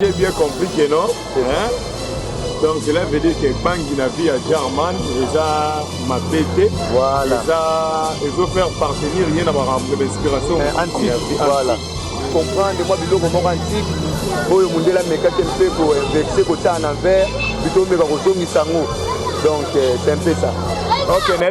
J'ai bien compris que non. Hein? Donc cela veut dire que bangi na vie ya German eza mabe te. Voilà. Eza ezo faire partenir ye na makambo ya inspiration. Eh, antique. Voilà. Comprendre mwa biloko moko antique oyo mondele amekaki mpe kovexe kotala na verre bito omeka kozongisa yango donc euh, c'est un peu ça. Okay,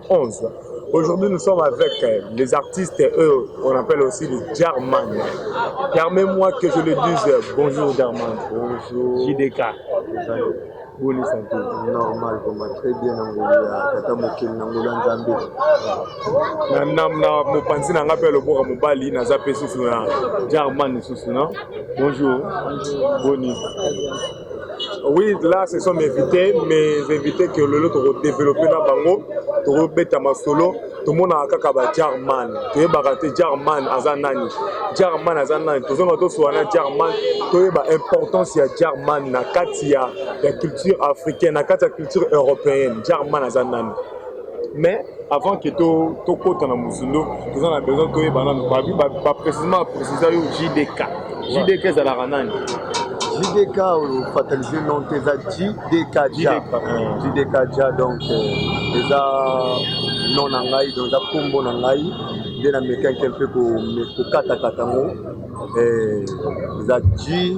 11. Aujourd'hui, nous sommes avec euh, les artistes, eux, on appelle aussi les Jarman. Permets-moi que je le dise. Euh, bonjour, Jarman. Bonjour. JDK. boni santé normal koma très bien na ngolu ya tata mokeli na ngolu ya nzambe na mopanzi na ngai mpe loboka mobali naza mpe susu na jarman lisusu na bonjour boni Oui, là, ce sont mes invités, mes invités que lelo toko développer na bango, toko beta masolo, tomonaka kaka ba Jarman, toyebaka te Jarman aza nani, Jarman aza nani, tozonga tosuwa na Jarman, toyeba importance ya Jarman na kati ya, ya culture africaine, na kati ya culture européenne, Jarman aza nani. Mais avant que to to kota na muzindo toza na besoin to yeba nanu ba ba, ba précisément préciser yo JDK. JDK ezalaka nani? JDK oyo fataliser non te eza JDK ja. JDK ja donc eza non na ngai donc eza kombo na ngai nde na mekaki mpe kokatakata yango eza J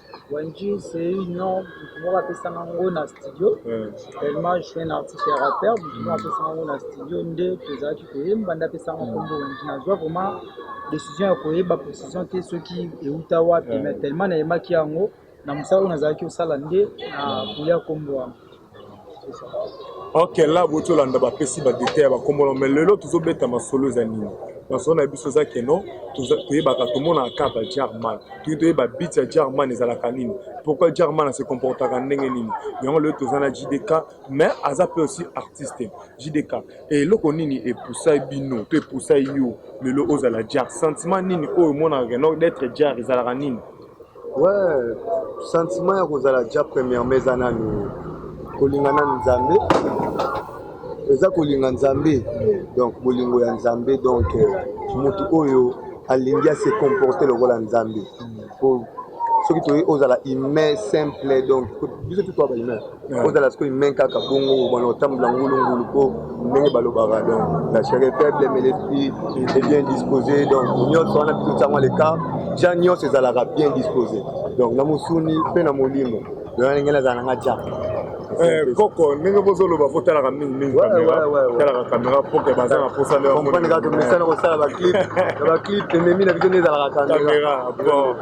Wendji c'est une nom moko apesanga ngo na studio tellement je suis un artiste ya rappeur moko apesanga ngo na studio nde tozalaki koyemba nde apesanga nkombo Wendji nazwa vraiment décision ya koyeba précision te soki euta wapi mais tellement nayemaki yango na mosala oyo nazalaki osala nde na koya nkombo wana ok là boti olanda bapesi badetail ya bakombono mais lelo tozobeta masolo eza nini masolo na biso eza keno toyebaka tomonaka ka ba jarman toki toyeba bit ya jarman ezalaka nini pourquoi jarman ase comportaka ndenge nini yango lelo toza na jdk mais aza mpe aussi artiste jdk eloko nini epusai bino to epusai yo lelo ozala jar sentiment nini oyo omonaka keno d'être jar ezalaka nini Ouais, sentiment ya kozala ja premièrement eza nanu kolinga nanu Nzambe eza kolinga Nzambe donc bolingo ya Nzambe donc motu oyo alingi ase comporter lokola Nzambe po soki toyei ozala humain simple donc biso tout toa ba humain ozala sikoyo main kaka bongo obana otambola ngulungulu mpo ndenge balobaka donc la chere faible mais l'esprit est bien disposé donc nyonso wana biso tiango leka ja nyonso ezalaka bien disposé donc na mosuni mpe na molimo donc ndenge nazala na nga ja Eh, koko ndenge bozoloba fo talaka mingi mingi talaka kamera poke baza na posa ndeomesana kosala baclip na baclip ememi na biso nde ezalaka kamera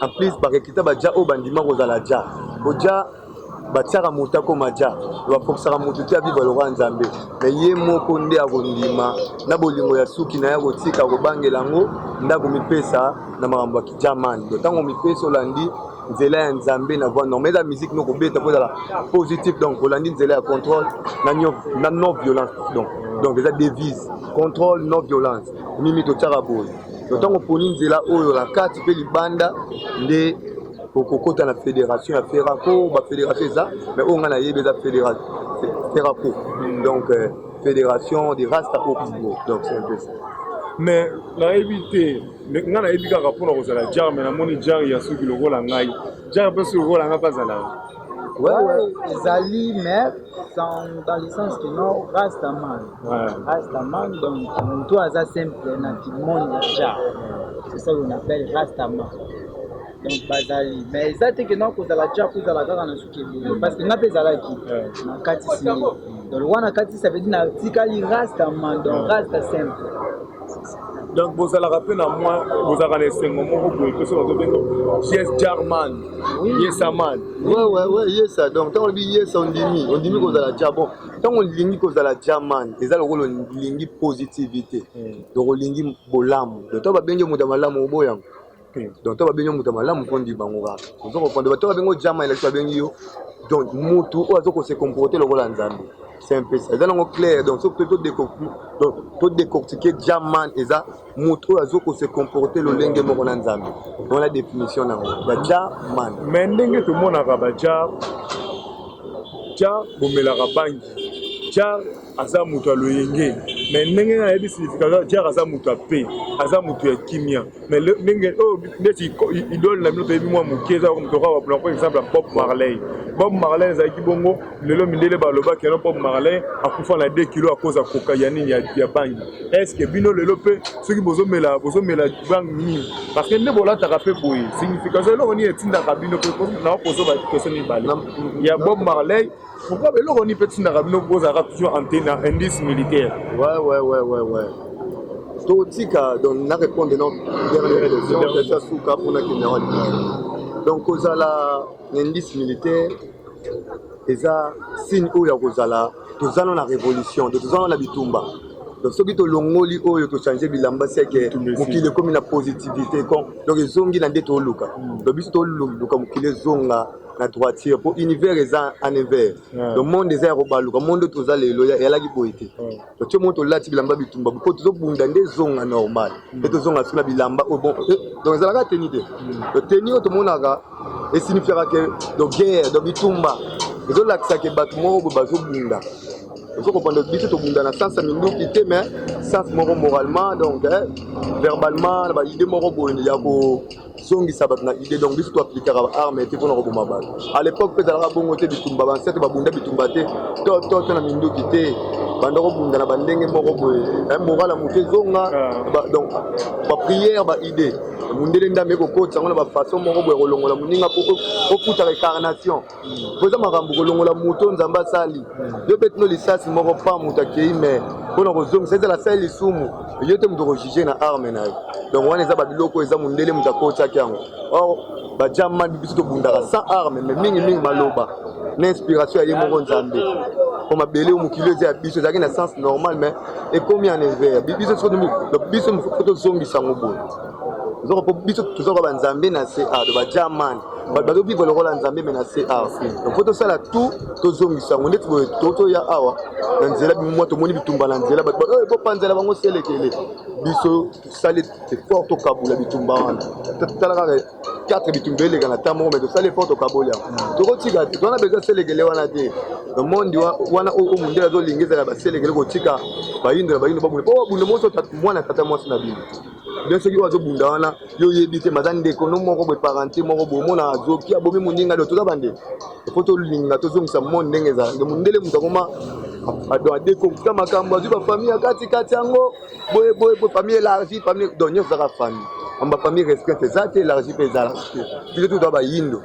En plus ba recruta ba ja oyo bandima kozala ja. Bo ja batiaka moto akoma ja bapokisaka moto te abiba lokola nzambe me ye moko nde akondima na bolingo ya suki na ye akotika kobangela yango nde akomipesa na makambo ya kijamani do ntango omipesi olandi nzela ya nzambe na voix normal eza musique no kobeta mpo ezala positif donc olandi nzela ya contrôle na non violence donc donc eza devise contrôle non violence mimi totyaka boye Na ntango oponi nzela oyo na kati mpe libanda nde okokota na federation ya ferraco bafederation eza mais oyo ngai nayebi eza ferraco donc euh, federation de rasta opigo donc c'est un peu ça mais nayebi te ngai nayebi kaka mpona kozala jare mais namoni jare ya suki lokola ngai jare mpe suki lokola ngai mpe azalaka Ouais, ouais, Zali, mais dans, dans le sens que non, Rastaman. Ouais. Rastaman, donc, mon toit, ça simple, dans tout le monde déjà. C'est ça qu'on appelle Rastaman. donc bazali mais eza te ke na kozala ja kozala kaka na suki ebele parce que nga mpe ezalaki na katisi donc wana katisi ça veut dire natikali rasta man donc rasta simple donc bozalaka mpe na mwa bozalaka na esengo moko boye mpe soki bazobenga yes jarman yesaman yesa donc ntango olobi yesa ondimi ondimi hmm. kozala ja bon ntango olingi kozala jaman eza lokola olingi positivité hmm. donc olingi bolamu donc ntango babengi moto ya malamu oboyango donc to babengi yo moto ya malamu mpo ndi bango kaka ozo kokonde bato babengi ojama elaki babengi yo donc motu oyo azo kose comporte lokola nzambe c'est un peu ça eza nango clair donc soki mpe to décortiquer jaman eza motu oyo azo kose comporte lolenge moko na nzambe wana définition nango ya jaman mais ndenge tomonaka bajar jar bomelaka bangi jar aza moto ya loyenge me ndenge na yebi signification jare aza moto ya pe aza moto ya kimia me ndenge oyo oh, neti idole na bino toyebi mwa moke eza moto kaka bapona po exemple ya bob marley bob marley ezalaki bongo lelo mindele balobaki yano bob marley akufa na 2 kilo akoza koka ya nini ya bangi estce bino lelo mpe soki bozomela bozomela bangi nini parce que nde bolataka mpe boye signification eloko nini etindaka bino mpe nakozoba question mibale ya bob marley Pourquoi beloko ni peut tindaka bino bozalaka toujours en tenue na indice militaire. Ouais ouais ouais ouais ouais. totika donc na répondre non dernière élection eza suka mpona kenda wa libaya donc kozala na indice militaire eza signe oyo ya kozala toza na révolution donc toza na bitumba donc soki tolongoli oyo tochange bilamba seke mokili ekomi na positivité donc ezongi na nde toluka donc biso toluka mokili ezonga na droiture mpo univers eza en envers le monde eza ya kobaluka monde oyo toza lelo yalaki boye te totie moko tolati bilamba bitumba mpo tozobunda nde ezonga normal mpe mm. tozonga soki na bilamba oyo bon eh, donc ezalaka teni te mm. teni oyo tomonaka esinifiaka ke do guerre do bitumba ezolakisa ke bato moko boye bazobunda ozo comprendre biso tobunda na sens ya minduki te mais sens moko moralement donc eh, verbalement na baide moko boye ya ko zongisa bato na idée donc biso toaplikaka baarme te mpona koboma bato à l'époque mpe ezalaka bongo te bitumba bansete babunda bitumba te to to to na minduki te banda kobunda na bandenge moko boye eh, moral ya moto ezonga ah. donc baprière baidée mondele ndambe ekokotisa yango na bafaçon moko boye kolongola moninga mpo okutaka ecarnation mpo eza makambo kolongola moto nzambe asali yo beti no lisasi moko pa moto akei mai mpo na kozongisa ezala asali lisumu yo te moto okojuge na arme na yo donc wana eza babiloko eza mondele moto akotiaki yango or bajamani biso tobundaka sans arme mai mingimingi maloba na inspiration ya ye moko nzambe mpo mabele oyo mokili eza ya biso ezalaki na sens normal mai ekomi en envers biso biso tozongisa yango boye nzoka mpo biso toza kwa banzambe na se a to bajaman bato bazobivre lokola nzambe me na se awa donc mpo tosala tout tozongisa yango ndeti boye totoya awa na nzela bimwa tomoni bitumba na nzela bato baoyo ekopanzela bango selekele biso tosali effort tokabula bitumba wana tala kaka 4 bitumba eleka na ntango moko me tosali effort tokaboli yango mm. tokotika te towana bezo selekele wana te monde wana oyo mondele azolinga ezala baselekele kotika bayindo na bayindo babunda mpo babunda moso mwana tata mwasi na bino bien soki oyo azobunda wana yo oyebi te maza ndeko no moko boye parente moko boye omona azoki abomi moninga lio toza bande po tolinga tozongisa mone ndenge ezala nde mondele moto akoma ado adekokuta makambo azwi bafamille ya katikati yango boye boye boye famille élargie famille donc nyonso ezaka famille amba famille restreinte eza te élargie mpe ezalaka te biso toza bayindo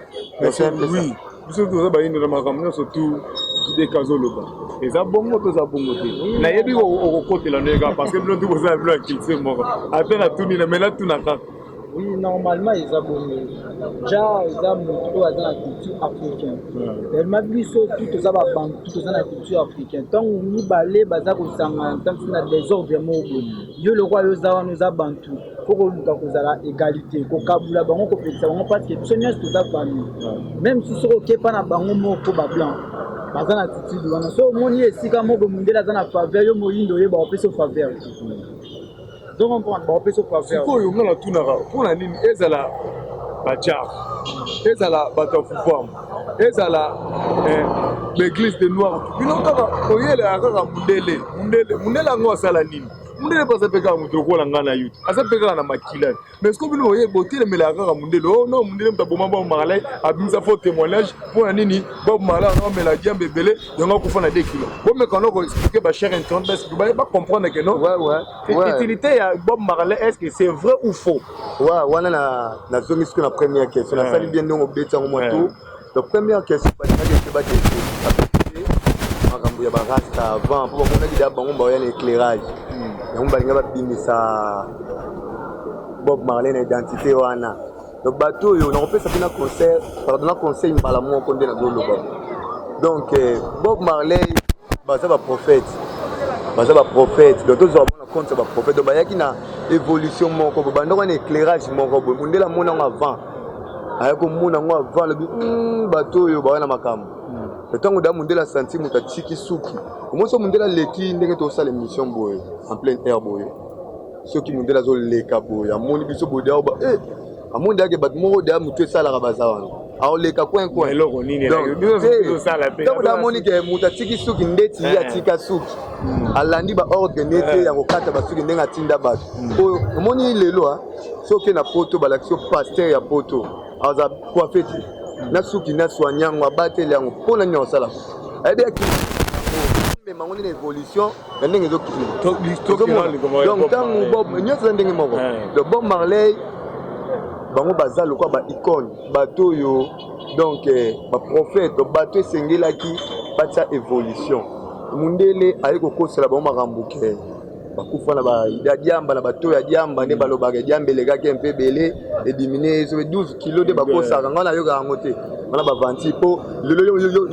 oui biso toza bayindo na makambo nyonso tu jideka azoloba eza bongo to eza bongo te nayebi okokotela nde kaka parce que bino tu bozala bino ya culture moko ata natuni na mai natuna kaka oui normalement eza bongo ja eza moto oyo aza na culture africaine tellement biso tu toza babantu toza na culture africaine ntango mibale baza kosangana ntango na desordre moko yo lokola yo oza wana oza bantu faut koluka kozala egalite kokabula bango kopekisa bango parce que biso nyonso toza famille même si soki okepa na bango moko bablanc baza na attitude wana so omoni esika moko mondele aza na faveur yo moyindo oyeba opesi yo faveur donc comprendre baopesi yo faveur sikoyo nga natunaka mpo na nini ezala bajar ezala bato ya pouvoir ezala eh, baeglise de noir bino kaka oyelaka kaka mondele mondele mondele yango asala nini mundele mpe aza mpe kaka moto lokola ngai na yo aza mpe kaka na makila mais siko bino oye botelemelaka kaka mundele o oh, no mundele moto aboma bob marley abimisa fo témoignage mpo na nini bob marley ana omela diambe ebele yango akufa na 2 kilo bomeka noko explike bacher internet basi baye bacomprendre ke no utilité ya bob marley est ce que c'est vrai ou faux wana nazongi siko na première question nasali bien ndenge obeti yango moto Donc première question balingaki ete ba découvrir makambo ya ba rasta avant mpo bamonaki deja bango baoya na éclairage yango balinga babimisa Bob Marley na identité wana donc bato oyo nakopesa mpe na conseil pardon na conseil mbala moko nde nazoloba donc eh, Bob Marley baza ba prophète baza ba prophète donc tozwa bona compte ya ba prophète donc bayaki na évolution moko bo bandoko na éclairage moko boye mondele amonango avant aye komona yango avant alobi hmm, bato oyo bawa na makambo hmm. ntango da mondele asanti moto atiki suki omoni so mondele aleki ndenge tosala émission boye en pleine air boye soki mondele azoleka boye amoni biso boye da oba eh, amoni ndeyake bato moko deya motu esalaka baza wana aoleka coin coin eloko nini ntango da amoni ke moto atiki suki ndeti ye eh. atika suki hmm. alandi baordre nete ya kokata basuki ndenge atinda bato oyo omoni lelo soki na poto balakisi yo pasteur ya poto aza coiffe te na suki na soigne yango abateli yango mpo na nini akosala ayebi yaki mema yango ndenge évolution ya ndenge ezokitidonc ntango bob nyonso eza ndenge moko donc bob marley bango baza lokola ba icone bato oyo donc eh, baprophète bato esengelaki batya évolution mundele aye kokosela bango makambo ke bakufa na baida diamba na bato ya diamba nde balobaka diamba elekaki mpe ebele edimine ezo 12 kilo nde bakosaka ngai nayoka yango te wana bavanti mpo lelo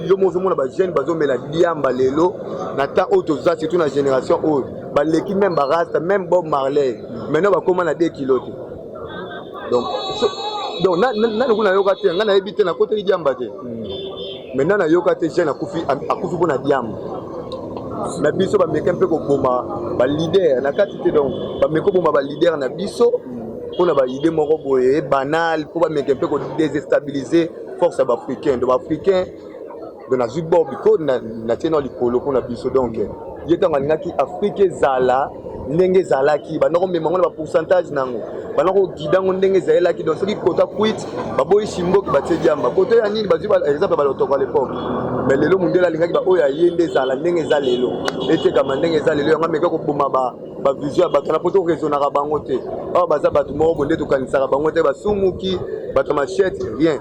yo moko ozomona bajeune bazomela diamba lelo na temps oyo toza surtout na génération oyo baleki meme barasta meme bob marley maintenant bakóma na 2 kilo te donc donc nani kuna nayoka te ngai nayebi te nakoteli diamba te hmm. Maintenant na yoka te jeune akufi akufi pona diamba. Na biso ba meka mpe koboma ba leader na kati te donc ba meko boma ba leader na biso pona ba idée moko boye banal po ba meka mpe ko désestabiliser force ya ba africain. Donc ba africain donc nazwi bob ko na na tiena likolo pona biso donc ye ntango alingaki afrika ezala ndenge ezalaki banda komema yango na bapourcentage na yango banda kogida yango ndenge ezalelaki donc soki kota kwit baboyi simboki batie diamba koto ya nini bazwi exemple ya balotoko ya lepoke me lelo mondele alingaki baoyo aye nde ezala ndenge eza lelo etekama ndenge eza lelo yango ameka koboma bavision ya bato na poto raisonnaka bango te awa baza bato moko bonde tokanisaka bango te basumuki bato ya machete rien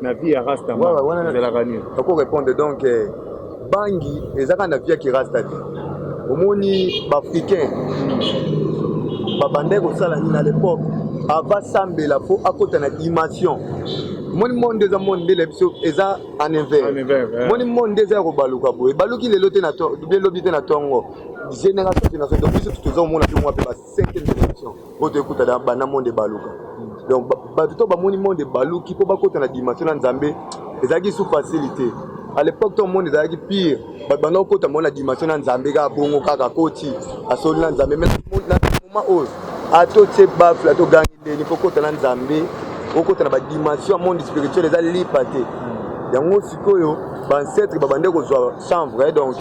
na vie ya rasta ezalaka nini oko répondre donc eh, bangi ezaka na vie ya kirasta te omoni baafricain babandaki kosala nini na l'époque avasambela mpo akota na dimension moni monde eza monde nde la biso eza en hiver moni monde nde eza ya kobaluka boye ebaluki lelo te bien lobi te na ntongo génération génération donc biso toza komona mpe mwa mpe basi cinquième dimension oyo toye kuta na banda monde ebaluka donc bato to bamoni monde ebaluki mpo bakota na dimension na nzambe ezalaki sous facilité à l'époque to monde ezalaki pire bato banda kokota mona dimension na nzambe kaka bongo kaka koti asoli na nzambe mais na moment oyo atotie bafle atogangi ndeni mpo kota na nzambe okota na badimension ya monde spirituel eza lipa te yango sikoyo bancetre babande kozwa sans vrai donc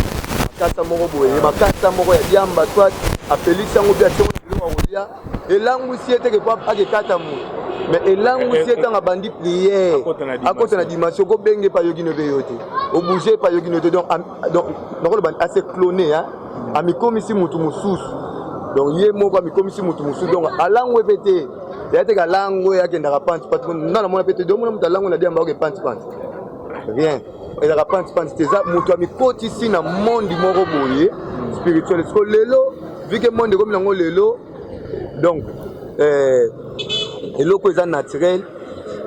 makasa moko boye makasa moko ya diamba soit apelisi yango mpe atie biloko ya kolia elangwisi ye teke po akekata moyi mais elangwisi ye ntango abandi priere akota na dimension kobenge epa yoki no mpe yo te obouge epa yoki no te donc nakoloba ase clone amikomisi motu mosusu donc ye moko amikomisi motu mosusu donc alangwe mpe te ya teke alangwe akendaka panti panti nga namona mpe te domona moto alangwe na diamba oke panti panti rien ezalaka panti panti te eza moto amikotisi na mondi moko boye spirituel siko lelo vike mondi ekomi nango lelo donc eh, eloko eza naturel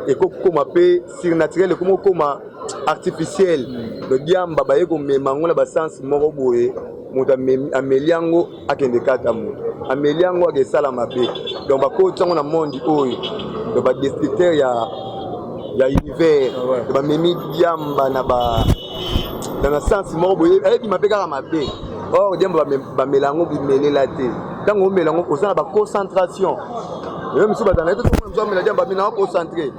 ekokoma mpe surnaturel ekomi kokoma artificiel lodiamba baye komema yango na basense moko boye moto ameli yango akende kata moto ameli yango ake esala mabe donc bakoti yango na monde oyo donc badestructeur ya ya univers ah bamemi diamba na ba na na sense moko boye ayebima mpe kaka mabe or diamba bamela yango bimelela te ntango omela yango oza na baconcentration ye mosusu bazala ete soki mosusu amela diamba mina akocentre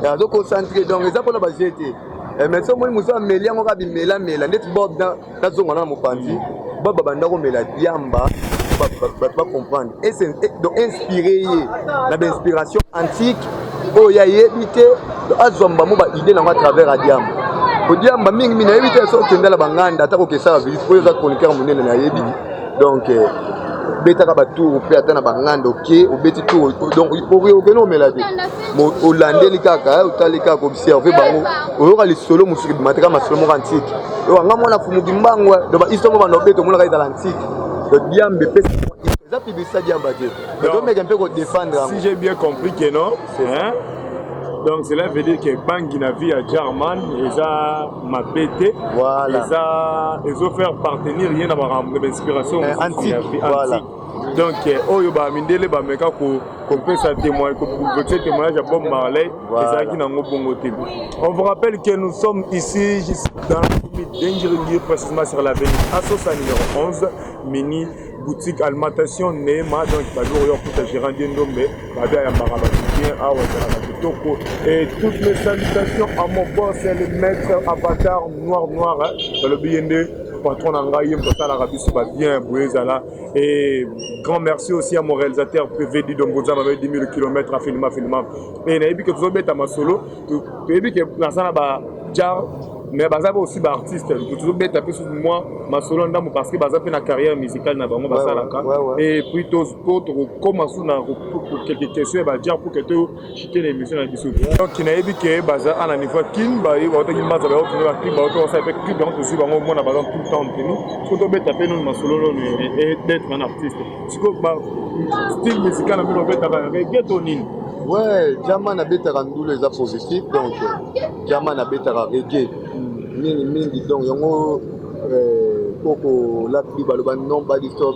azoconcentre donc eza mpona baje te eh, mais soki omoni mosusu ameli yango kaka bimelamela ndeti bob nazonga na mopanzi baba banda komela diamba bato bacomprendre donc inspire ye na bainspiration antique oyo ye ayebi te azwa mbamo baide nango à travers ya diamba odiamba mingi mingi nayebi te soki okenda na banganda ata kokesala visite oyo eza chroniqueur monene nayebi donc euh, betaka batour mpe ata na banganda oke obeti tour donc okende omela te olandeli kaka eh, otali kaka observe bango oyoka lisolo mosusu ebimataka masolo moko antike oyoka nga mwana fumuki mbango eh. donc bahisto moko banda obeta omonaka ezala antike donc diambe epesa eza publicité diamba te tomeke mpe kodefendre yango si j'ai bien compris que non hein? donc cela veut dire que bangi na vie ya german eza mabe te voilà. eza ezofaire partenir ye na makambo na bainspiration eh, antique, voilà. donc eh, oyo ba mindele ba meka ko kopesa témoignage kopesa témoignage ya Bob Marley ezalaki nango bongo te on vous rappelle que nous sommes ici juste dans la commune d'Engirigui précisément sur l'avenue Assosa numéro 11 mini boutique alimentation Neema donc bajour yo kuta gérant Ndombe Babe ayambaka bato bien awa ezalaka kitoko et toutes mes salutations à mon boss le maître avatar noir noir balobi ye nde patron na ngai ye moto asalaka biso ba bien boye ezala et grand merci aussi à mon réalisateur pv didomboza babe 10 000 km afilima filima et nayebi ke tozobeta masolo toyebi ke naza na ba jar mais baza pe aussi baartiste tozobeta mpe mwa masolo ndambo parce que baza mpe na carrière musicale na bango basalaka et puis po tokokoma su na quelque question ya bajan pour que toshite na émission na biso donc nayebi ke baza ana niveau kin baye baotaki mbanza baye okende bakin baoto basala mpe clip yango tozwi bango omona baza tout le temps ntenu soki tobeta mpe noni masolo noni d'être un artiste siko style musical na bino obetaka rege to nini ouais jama nabetaka ndula eza positif donc jama nabetaka rege mingi mingi donc yango koko lapi baloba non badisoc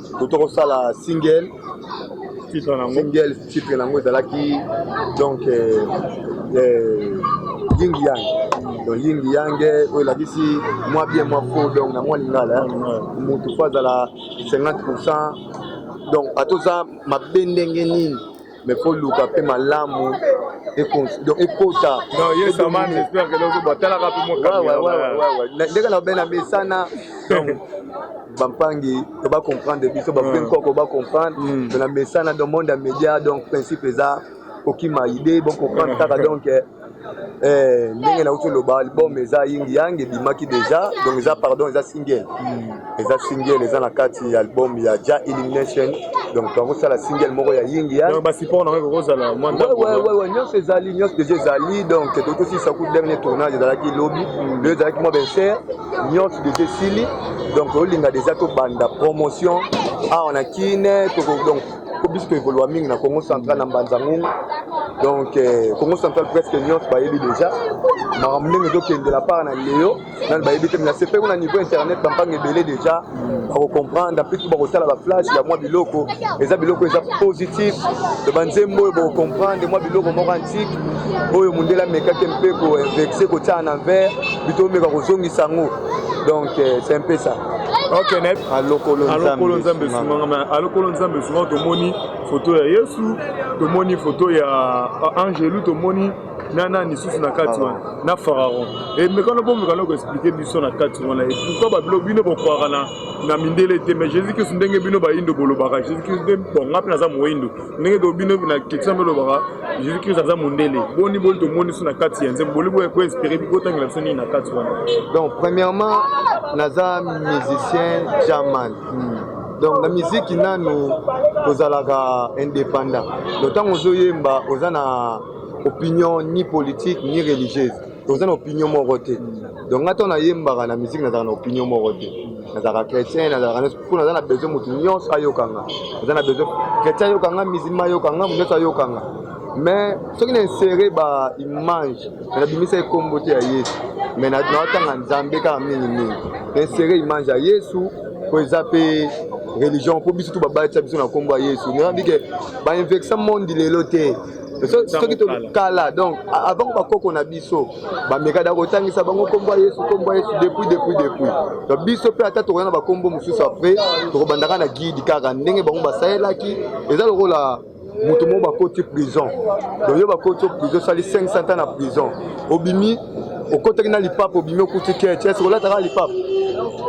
Koto kosala single titre nango single titre nango ezalaki donc euh, euh, ying yang donc ying yang oyo elakisi mwa bien mwa faux donc na mwa lingala motu fo azala 50 pourcent donc ata oza mabe ndenge nini mais faut luka pe malamu donc ekota ndenge na obena mesana bampangi to ba comprendre biso bape nkoko ba comprendre hmm. to na mesana donc monde ya média donc principe eza kokima idée bocomprendre kaka donc eh, Eh, ndenge nauti oloba album eza ying yang ebimaki deja donc eza pardon eza single hmm. eza single eza na kati ya album ya ja elimination donc tokosala single moko ya ying yangwewewe nyonso ezali nyonso deja ezali donc totosilisa ku dernier tournage ezalaki lobi hmm. lelo ezalaki mwa benser nyonso deja esili donc olinga deja tobanda promotion awa na kine donc po biso to evolua mingi na congo central na mbanza ngungu donc eh, congo central presque nyonso bayebi déjà makambo ndenge ezokendela part na leo nani bayebi te na sepe kuna niveau internet bampanga ebele déjà bakocomprendre mpe bakosala baflash ya mwa biloko eza biloko eza positif to banzembo oyo bakocomprendre mwa biloko moko antike oyo mondele amekaki mpe koinvexe kotyana na vert bito omeka kozongisa yango donc eh, c'est un peu ça Okay, ne... alokolo nzambe esunganga me alokolo nzambe esunganga tomoni foto ya yesu tomoni foto ya ah, angelu tomoni na nani lisusu na kati wana na pharaon emekana eh, bomekana koexplike biso na kati wana pourkui babilo bino bokwaka na mindele te mais jésus kristu ndenge bino bayindo bolobaka jésus kristu nde bonga mpe naza moyindo ndenge to bino na ketisa mpe lobaka jésus christ aza mondele boni boni tomonisi na kati ya nzembo boli boya koinspire bikotangela biso nini na kati wana donc premièrement naza musicien jaman hmm. donc na miziki nanu tozalaka indépendant donc ntango ozoyemba oza na opinion ni politique ni religieuse toza na opinion moko te donc nga ntango nayembaka na miziki nazalaka na opinion moko te nazalaka chrétien nazalaka nyonso mpo naza na besoin moto nyonso ayokanga naza na besoin chrétien ayokanga musulma ayokanga moto nyonso ayokanga mais soki na insere ba image me nabimisa ekombo te ya yesu me naotanga nzambe kaka mingi mingi na insere image ya yesu mpo eza mpe religion mpo biso tu babatisa biso na nkombo ya yesu nayebike bainvexa mondi lelo te soki kala donc avant bakoko na biso bamekada kotangisa bango nkombo ya yesu nkombo ya yesu depuis depuis depuis donc biso mpe ata tokoya na bakombo mosusu apres tokobandaka na guide kaka ndenge bango basalelaki eza lokola moto moko bakoti prison donc yo bakoti prison osali 500 ans na prison obimi okotaki na lipapa obimi okuti keti esi kolataka lipapa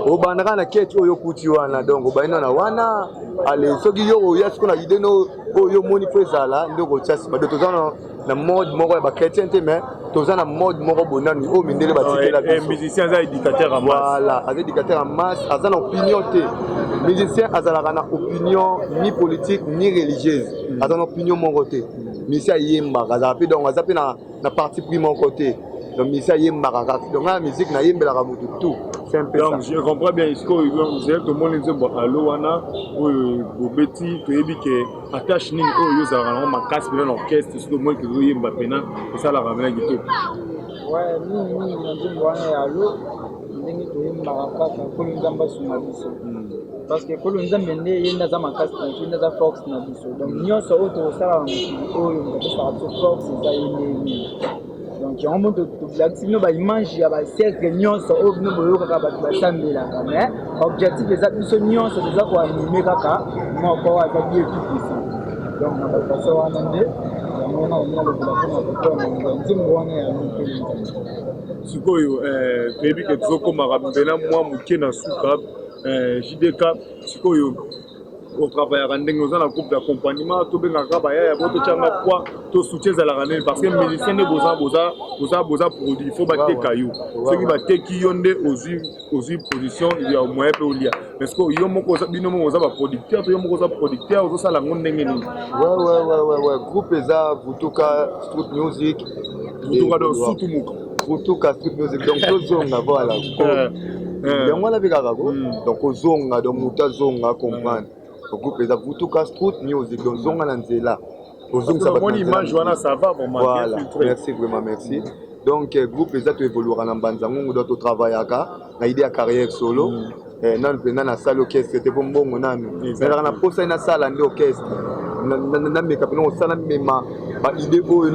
obandaka na keti oyo okuti wana donc obainana wana ale soki yo oya siko na ideno oyo yo moni mpo ezala nde okotya nsima do toza na mode moko ya bachrétien te mais toza na mode moko bonani oyo mindele batikela eh, eh, bisomusicien aza éducateur ya voilà aza éducateur ya masse aza na opinion te musicien azalaka na opinion ni politique ni religieuse aza na opinion moko te misi ayembaka azalaka mpe donc aza mpe na na parti pris moko te donc misi ayembaka kaka donc ngai na miziki nayembelaka motu tout donc je comprends bien sikoyo mzee tomoni nzembo alo wana oyo bobeti toyebi ke attache nini oyo ozalaka nango makasi mpena na orchestre soki omoni ke ozoyemba mpena esalaka mpena kitoko mingi mingi na nzembo wana ya alo ndenge toyembaka kaka kolo nzambe asunga biso parce que kolo nzambe nde ye nde aza makasi na biso nde aza force na biso donc nyonso oyo tokosala na mokili oyo moto apesaka biso force eza ye nde nini donc yango mpo tobelakisi bino baimage ya basiècle nyonso oyo bino boyokaka bato basambelaka mais objectif eza biso nyonso toza koanime kaka moko aza bie tout puissant donc na bafaso wana nde yango wana olinga lokola mpo na kotoa na nzembo wana ya mokeli Sikoyo eh, toyebi ke tozokomaka mbela mwa moke na suka eh, JDK sikoyo otravayaka ndenge oza na groupe d'accompagnement tobengaka bayaya bo totyanga poi to soutien ezalaka nini parce que musicien nde boza boza boza boza produit fo bateka yo soki bateki yo nde ozwi ozwi position ya moyen mpe olia parce que yo moko oza bino moko oza ba producteur to yo moko oza producteur ozosala yango ndenge nini wewewewewe groupe eza vutuka street music vutuka donc sutumuka vutuka street music donc tozonga voilà eh, eh. yango wana mpe kaka ko hmm. donc ozonga donc moto azonga comprendre groupe eza vutuka street music donc zonga na nzela kozongisa bamoni image wana ça va vraiment voilà. merci vraiment merci donc euh, groupe eza toevoluaka na mbanza ngungu do totravaillaka na idée ya carrière solo mm. eh, nanu mpenza nasali orchestre te mpo mbongo nanu nazalaka na mposa ye nasala nde orchestre nameka mpena kosala mema baide oyo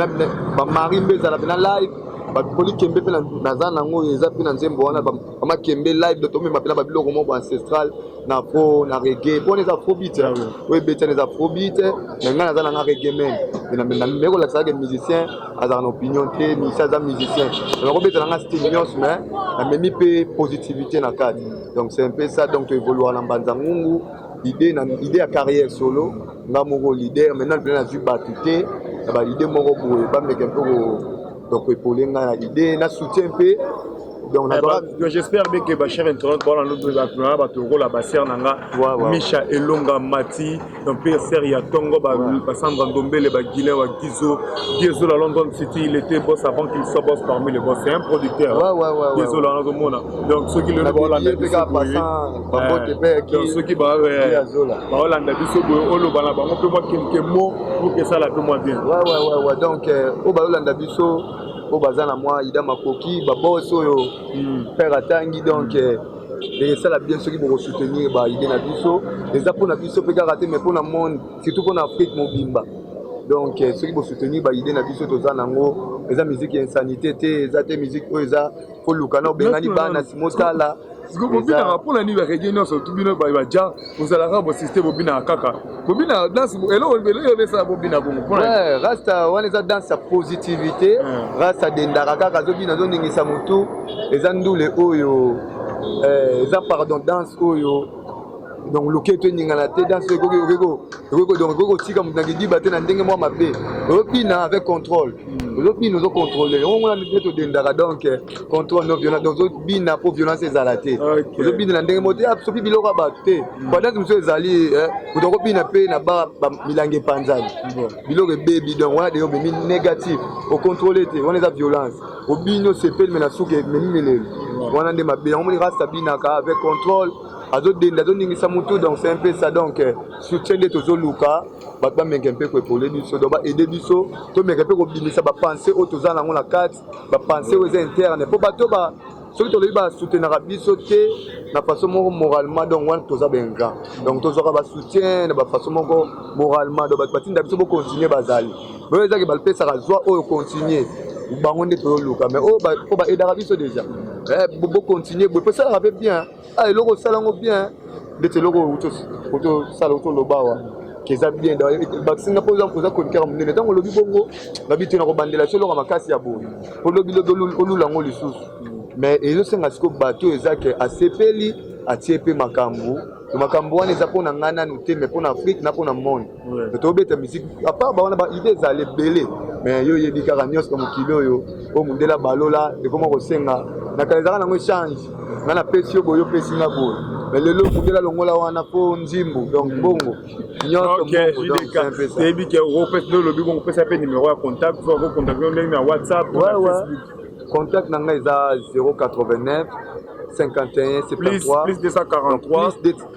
bamari mpe ezala mpena live bakoli kembe mpe naza nango oyo eza mpe na nzembo wana bamakembe live tomema mpena babiloko moko ancestral na fo na reggae pona eza faux beat yango oyo ebetana eza faux beat mais ngai naza nanga reggae man namemi kolakisa ke musicien azalaka na opinion te musicien aza musicien nakobeta nanga style nyonso mais namemi mpe positivité na kati donc c'est un peu ça donc toevoluaka na mbanza ngungu idée na idée ya carrière solo nga moko leader maintenant mpena nazwi bato te na baidée moko boye bameka mpe donc epole ngai na idée na soutien mpe donc eh, nazwaka bah, j'espère bien que bachère internet bawana ndotoaa bato lokola basere na nga micha elonga mati mpe sere ya tongo basandra ndombele baguilin wa gizo giezo la london city il était boss avant qu'il soit boss parmi les boss c'est un producteur giezo la nazomona donc soki lelo baolanda biso eh, soki baolanda biso boye oloba na bango mpe mwa kemkemo mpo kesala mpe mwa bien donc oyo euh, baolanda biso oyo baza na mwa ida makoki babos oyo hmm. père atangi donc hmm. eh, esala bien soki bokosoutenir baide na biso eza mpona biso mpe kaka te mais mpona monde surtout mpona afrique mobimba donc eh, soki bosoutenir baide na biso toza nango eza miziki ya insanité te eza te miziki oyo eza koluka na obengani bana simotala siko bobinaka mpo na nini bareggae nyonso tu bino baja bozalaka bosiste bobinaka kaka bobina danse eloko eloko ebesala bobina bongo mpo na rasta wana eza danse ya positivité rasta dendaka kaka azobina azoningisa motu eza ndule oyo eza pardon danse oyo donc loketo eningana te danse ekoki kotika moto na kidiba te na ndenge mwa mabe ozopina avec contrôle ozobina ozocontrole yango ngona nde todendaka donc eh, contrôle no violence donc ozobina mpo violence ezala te ozobina na ndenge moko te soki ah, biloko ya bato te badate mosusu ezali eh, moto akobina mpe na ba milangi epanzani biloko ebebi donc wana deyo omemi négatif ocontrole te wana eza violence obini osepeli me na suki ememi melelo wana nde mabe yango moni rasta binaka avec contrôle azo denda azo ningisa mutu donc c'est un peu ça donc euh, soutien nde tozo luka bato bameka mpe koepole biso donc baede biso tomeka mpe kobimisa bapense oyo toza nango na kati bapense oyo eza interne mpo bato ba soki tolobi basoutenaka biso te na façon moko moralement donc wana toza baingra donc tozwaka basoutien na bafaçon moko moralement donc bato batinda biso bocontinue bazali Vraiment ezaki balpesaka zwa oyo continuer bango nde toluka mais oyo mpo baedaka biso déjà eh, bocontinue boye mpo esalaka mpe bien ah, eloko osala yango bien ndeti eloko otosala otoloba awa eza bien bakisinga mpo oza chroniqueur monene ntango olobi bongo nabi te nakobandela so eloko makasi ya boye olobilobi olula yango lisusu mais ezosenga sikoyo bato oyo eza ke asepeli atie mpe makambo makambo wana eza mpo na ngai nanu te mais mpo na afrique na mpo na monde te tobeta musique apart bawana ba idée ezala ebele mais yo oyebi kaka nyonso na mokili oyo oyo mondela balola ekoma kosenga na kala ezalaka nango echange nga napesi yo boye opesi nga boye mais lelo mondela longola wana mpo nzimbu donc bongo nyonsoyebi ke opesi nde olobi bongo opesa mpe numero ya contact fo akokontakte yo ndenge na whatsapp contact na ngai eza 089 51 73 plus 243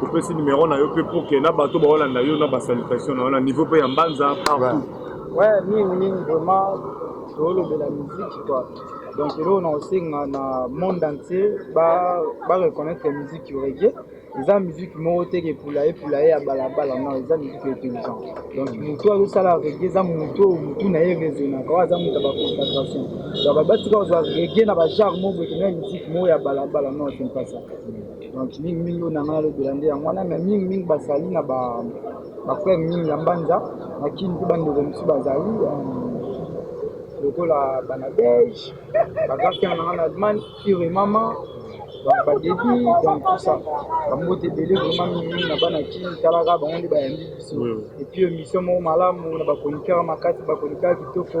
Topesi numero na yo mpe pour que na bato baolanda yo na basalutation na yo na niveau mpe ya mbanza partout. Ouais, mingi mingi vraiment tolobela miziki kua donc eloko na kosenga na monde entier bareconnaitre ba miziki regie eza miziki moko te kepula epula ye ya balabala non eza miziki intelligent donc motu azosala regie eza motu oyo motu na ye raisonnaka oyo aza moto ya baconcentration donc batika kozwa regie na bagenre moko boye kena miziki moko ya balabala non c'est pas ça donc mingi mingi oyo na ngai nalobela nde yango wana mais mingi mingi bazali na ba bafrere mingi ya mbanza na kini mpe bandeko mosusu bazali euh, lokola bana belge bagrafia na ngai na allemagne ure mama donc badebi donc tout ça bambote ebele vraimen mingi mingi na bana kini talaka bango nde bayambi biso epuis émission moko malamu na bachroniqueur makasi bachroniqueur kitoko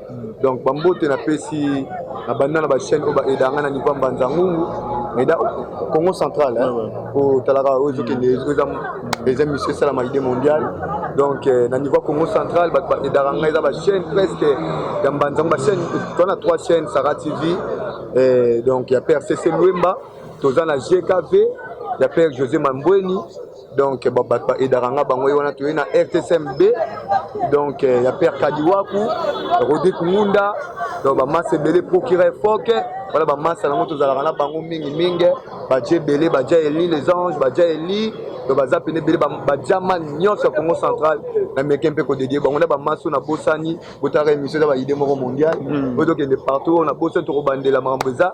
Donc bambote napesi na banda na ba chaîne oyo ba aida nga na niveau ya mbanza ngungu aida Congo central hein ko talaka oyo ezokende eza eza monsieur sala ma idée mondiale donc euh, na niveau ya Congo central bato ba aidaka nga eza ba chaîne presque ya mbanza ba chaîne to na trois chaînes Sarah TV euh, donc ya père CC Luemba toza na GKV ya père José Mambweni donc bato ba, ba edaka nga bango ye wana toye na rtsmb donc ya père kadiwaku rodrik ngunda donc bamasa ebele procureur foke wana bamasa yango tozalaka na bango mingi mingi baja ebele baja eli les anges baja eli donc baza pene ebele bajama nyonso ya congo central na meke mpe kodedie bango na bamaso na bosani botaka émission eza baide moko mondial oyo tokende partout oyo na bosani tokobandela makambo eza